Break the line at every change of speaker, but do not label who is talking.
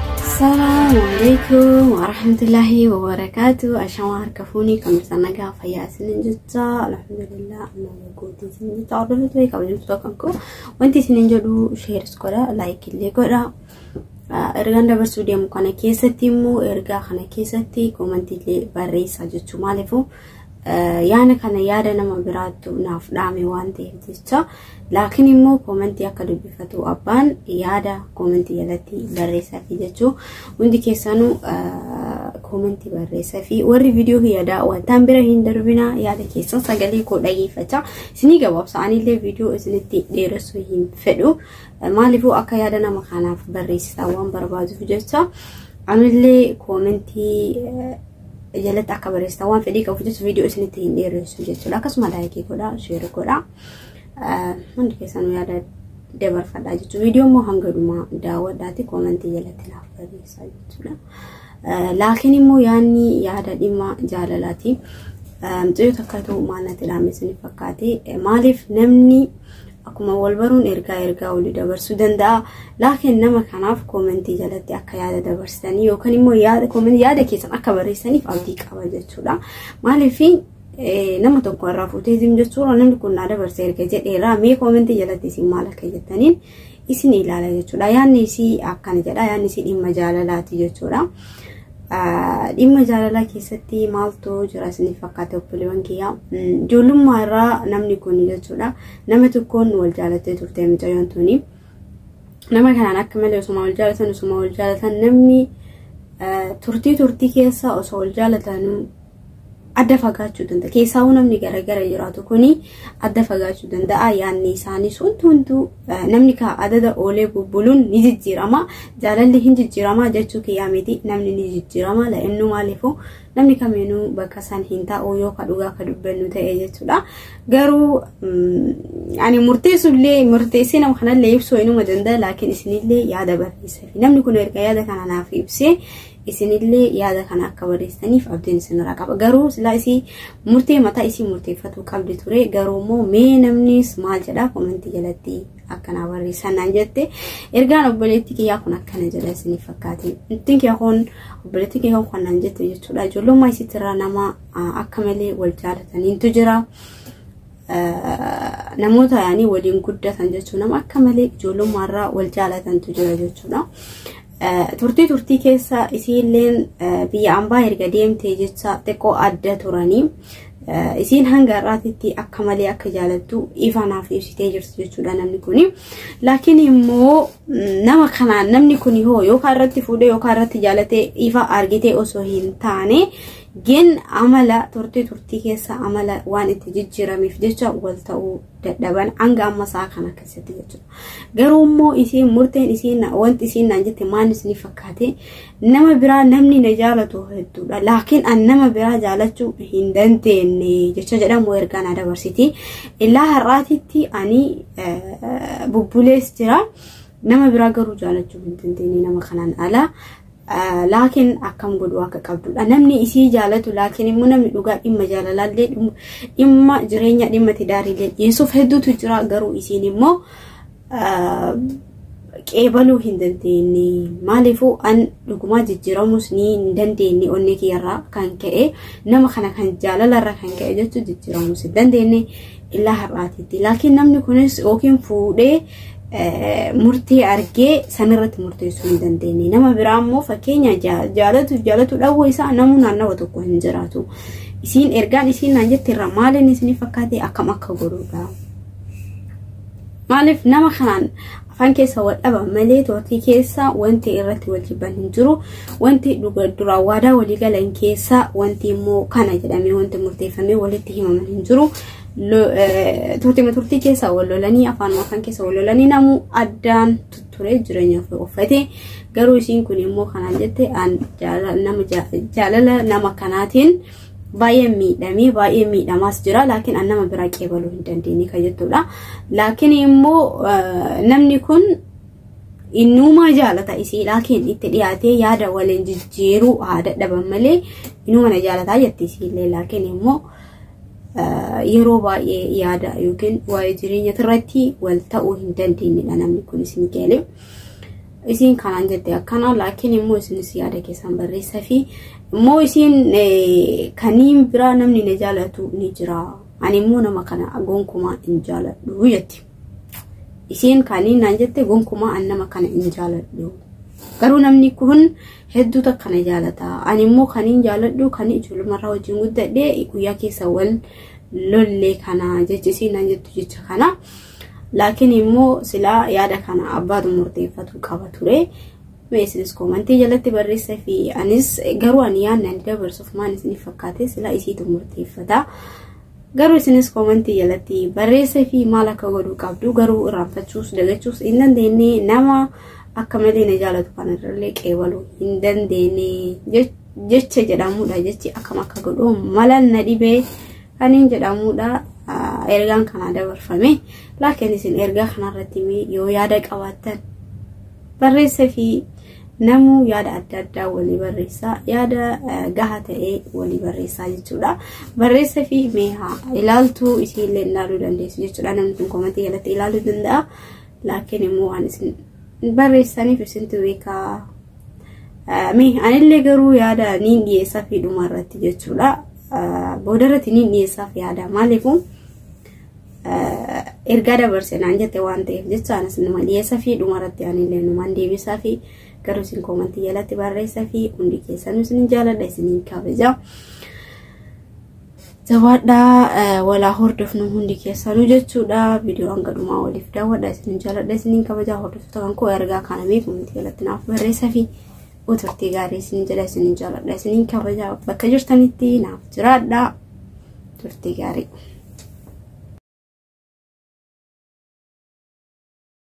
Assalamu alaikum warahmatullahi wabarakatuh. Ashamaa harka fuunii kan isa nagaa fayyaa isinin jecha alhamdulillah amma nagooti isin jecha hordofatu ta'e kabajamtu tokko koo wanti isinin jedhu sheeris godha laayik illee godha. Ergaan dabarsuu deemu kana keessatti immoo ergaa kana keessatti koomantii illee barreessaa jechuu maaliifuu yaana kana yaada nama biraattu naaf dhaame waan ta'eef jecha laakiin immoo koomentii akka dubbifatu abbaan yaada koomentii jalatti barreessaa fi jechuu hundi keessanuu koomentii barreessaa fi warri viidiyoo kiyya daawwattan bira hin darbina yaada keessan sagalee koo dhageeffachaa isinii gabaabsa anillee viidiyoo isinitti dheeressuu hin fedhu maaliifuu akka yaada nama kanaaf barreessitan waan barbaaduuf jecha anillee koomentii jalatti akka barreessitan waan fedhii qabuuf jecha viidiyoo isinitti hin dheeressu jechuudha. Akkasuma laayikii godhaa, sheerii godhaa. Hundi keessanuu yaada dabarfadhaa jechuudha. Viidiyoo immoo hanga dhumaa daawwadhaati koomentii jalatti naaf barreessaa jechuudha. Laakiin immoo yaadni yaada dhimma jaalalaati. Mucayyoo takka ta'u maal natti dhaame isin fakkaate. Maaliif namni Akkuma wal baruun ergaa ergaa olii dabarsuu danda'a. Laakiin nama kanaaf koomentii jalatti akka yaada dabarsitanii yookaan immoo yaada koomentii yaada keessan akka barreessaniif abdii qaba jechuudha. Maaliif nama tokko irraa fuutee zim jechuudha namni kun naa dabarse erga jedheera mee koomentii jalatti isin maal akka jettaniin isin ilaala jechuudha. Yaanni isii akkana jedha yaanni isii dhimma jaalalaati jechuudha. Dhimma jaalalaa keessatti maaltu jira isiniif fakkaate obboleewwan kiyyaa ijoollummaa irraa namni kun jechuudha nama tokkoon wal jaalattee turte mucayyoon tuni nama kanaan akka malee osuma wal jaalatan osuma wal jaalatan namni turtii turtii keessa osoo wal jaalatan adda fagaachuu danda'a. Keessaawuu namni garagara jiraatu kuni adda fagaachuu danda'a. Yaanni isaanii suntu hunduu namni kaa adada oolee bubbuluun ni jijjiirama. Jaalalli hin jijjiirama jechuu kiyyaa miti namni ni jijjiirama. La'innuu maaliifuu namni kamiinuu bakka san hin taa'u yoo ka dhugaa ka dubbannu ta'e jechuudha. Garuu ani murteessullee murteessee nama kanallee ibsuu inuma danda'a laakiin isinillee yaada barreesseefi. Namni kun erga yaada kana naaf ibsee isinillee yaada kana akka barreessitaniif abdiin isinirraa qaba garuu silaa isii murtee mataa isii murteeffatuu qabdi ture garuu immoo mee namnis maal jedha komentii jalatti akkanaa barreessan naan jette ergaan obboleettii kiyyaa kun akkana jedha isiniif fakkaate ittiin kiyya kun obboleettii kiyya kun naan jette jechuudha ijoollummaa isiitirraa nama akka malee wal jaalataniitu jira. namoota yaanii waliin guddatan jechuun nama akka malee ijoollummaarraa wal jaalatantu jira jechuudha. Turtii turtii keessa isiilleen biyya ambaa erga deemtee jecha xiqqoo adda turanii isiin hanga har'aatitti akka malee akka jaalattu ifa naaf ibsitee jirti jechuudha namni kuni. Laakiin immoo nama kanaan namni kuni hoo yookaan irratti fuudhee yookaan irratti jaalatee ifa argitee osoo hin taane Gin amala turtii turtii keessa amala waan itti jijjiiramiif jecha wal ta'uu dadhaban hanga amma isaa kana keessatti jechuudha. Garuu immoo isiin murteen isiin wanti isiin naan jette maal isinii fakkaate nama biraa namni na jaalatu hedduudha. Laakiin an nama biraa jaalachuu hin dandeenye jecha jedhamu ergaa na dabarsiti. Illaa har'aatitti ani bubbulees jira. Nama biraa garuu jaalachuu hin dandeenye nama kanaan ala. laakiin akkam godhuu akka qabdudha. Namni isii jaalatu laakiin immoo namni dhugaa dhimma jaalalaallee dhimma jireenya dhimma tidaariillee dhiyeessuuf hedduutu jira garuu isiin immoo qeebaluu hin dandeenye maaliifuu an dhugumaa jijjiiramuus ni hin dandeenye onnee kiyyarraa kan ka'e nama kana kan jaalalarra kan ka'e jechuun jijjiiramuus hin dandeenye Ilaa har'aatiitti. Laakiin namni kunis yookiin fuudhee murtee argee sanirratti murteessuu hin dandeenye. Nama biraa immoo fakkeenya jaalatu jaalatu dhawwa isaa namuu naannawa tokko hin jiraatu. Isiin ergaan isiin naan jette irraa maaliin isinii fakkaate akkam akka godhuudha. Maaliif nama kanaan afaan keessa wal dhaba malee turtii keessa wanti irratti wal jibban hin jiru wanti dhuga duraa waadaa walii galan keessa wanti immoo kana jedhamee wanti murteeffamee walitti himaman hin jiru Lo- eh, turtima turtii keessa wal lolanii afaan afaan keessa wal lolanii namuu addaan tutturee jireenya ofii uffate garuu isiin kun immoo kanaan jette an jaala- nama jaa- jaalala nama kanaatiin baay'ee miidhamee baay'ee miidhamaas jira laakiin an nama biraa qeebaluu hin dandeenye kan jettudha laakiin immoo namni kun innumaa jaalata isii laakiin itti dhiyaatee yaada waliin jijjiiruu haa dadhaban malee innuma na jaalataa jetti isiillee laakiin immoo yeroo baay'ee yaada yookiin waa'ee jireenya irratti wal ta'uu hin dandeenyedha namni kun isin galee. isiin kanaan jette akkana laakiin immoo isinis yaada keessan barreessa fi immoo isiin kaniin biraa namni na jaalatu ni jira ani immoo nama kana gonkumaa hin jaaladhu jetti isiin kaniin naan jette gonkumaa an nama kana hin jaaladhu garuu namni kun hedduu takka na jaalata ani immoo kaniin jaaladhu kan ijoollumarraa wajjin guddadhe guyyaa keessa wal lollee kana jechi isiin naan jettu jecha kana. Laakiin immoo silaa yaada kana abbaatu murteeffatu qaba ture. Mee isinis koomantii jalatti barreessa fi anis garuu ani yaadni ani dabarsuuf maal isiniif fakkaate silaa isiitu murteeffata. Garuu isinis koomantii jalatti barreessa fi maal akka godhuu qabdu garuu irraanfachuus dagachuus hin dandeenye nama akka malee na jaalatu kanarrallee qeebaluu hin dandeenye jecha jedhamudha jechi akkam akka godhu malan na dhibee. Kaniin jedhamuudha ergaan kanaa dabarfame laakiin isin ergaa kanarratti mee yoo yaada qabaattan barreessa fi namuu yaada adda addaa walii barreessaa yaada gahaa ta'ee walii barreessaa jechuudha barreessa fi mee haa ilaaltuu isiillee ilaaluu dandeessu jechuudha namni kun komatii jalatti ilaaluu danda'a laakiin immoo waan isin barreessaniif isintu beekaa. Mee anillee garuu yaada niin dhiyeessaa fi dhuma irratti jechuudha. Booda irratti niin dhiyeessaa fi yaada maaliifuu ergaa dabarse naan jette waan ta'eef jecha anas numa dhiyeessaa fi dhuma irratti anillee numaan deebisaa fi garuu isin koomantii jalatti barreessaa fi hundi keessanuu isin jaaladha isin kabaja. Jabaadhaa walaa hordofnu hundi keessanuu jechuudha. Viidiyoo hanga dhumaa waliif daawwadha. Isin jaaladha isiniin kabajaa hordoftoota kan koo ergaa kana mee komentii jalatti naaf barreessaa fi turtii gaarii isin jedha isiniin jaaladha isiniin kabajaa bakka jirtanitti naaf jiraadha. Turtii gaarii.